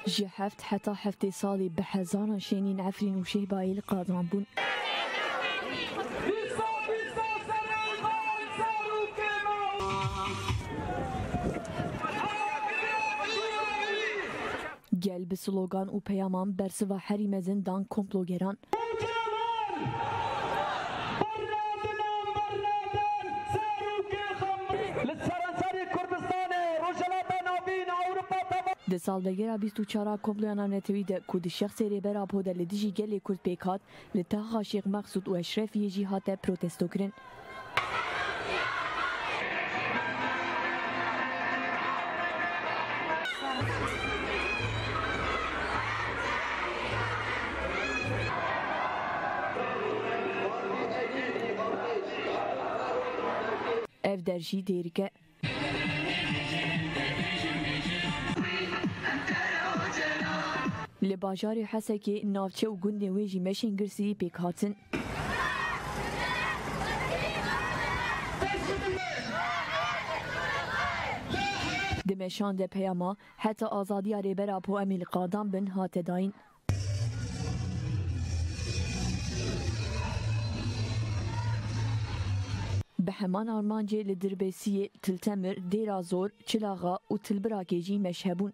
Ji heft heta heftê salî bi hezaran şênîn Efrîn û Şêhbayê li qadran bûn. Gel bi slogan û peyaman bersiva herî mezin dan komplogeran. Di salvegera bîst û çar a komploya navnetewî de ku di şexsê Rêber Apo de li dijî gelê Kurd pêk hat, li Taxa Şêx Mexsûd û Eşrefiyê jî hate protestokirin. Ev der jî dêrike. Li bajarê Hesekê, navçe û gundên wê jî meşên girsîyî pêk hatin. Di meşan de peyama Heta azadiya Rêbera Poemîl Qadan bin hate dayîn. Bi heman armancê li Dirbêsiyê, Tiltemir, Dêrazor, Çilaxa û Tilbirakê jî meşe bûn.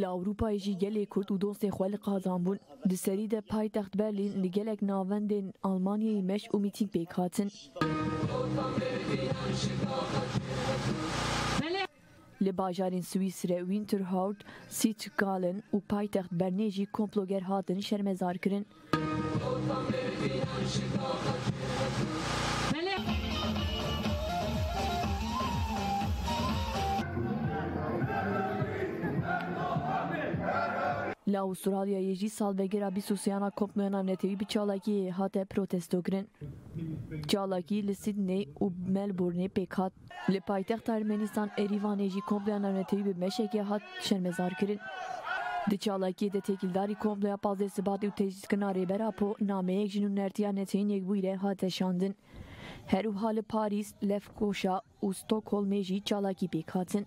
Li Ewropayê jî gelê Kurd û dostên xwe li qazan bûn. Di serî de paytext Berlîn li gelek navendên Almanyayê meş û mîtîng pêk hatin. Li bajarên Swîsre Winterhout, Sitzgallen û paytext Bernê jî komploger hatin şermezarkirin. Li Awistralyayê jî salvegera bîst û sêyana komployana netewî bi çalakiyê hate protestokirin. Çalakî li Sydney û Melbournê pêk hat. Li paytexta Ermenîstan Erîvanê jî komploya navnetewî bi meşekê hat şermezarkirin. Di çalakiyê de têkildarî komploya pazdeh Sibatê û tecrîdkirina Rêber Apo nameyek ji nûnertiya Neçeyîn Yekbûyî re hate şandin. Her wiha li Parîs, Lefkoşa û Stokholmê jî çalakî pêk hatin.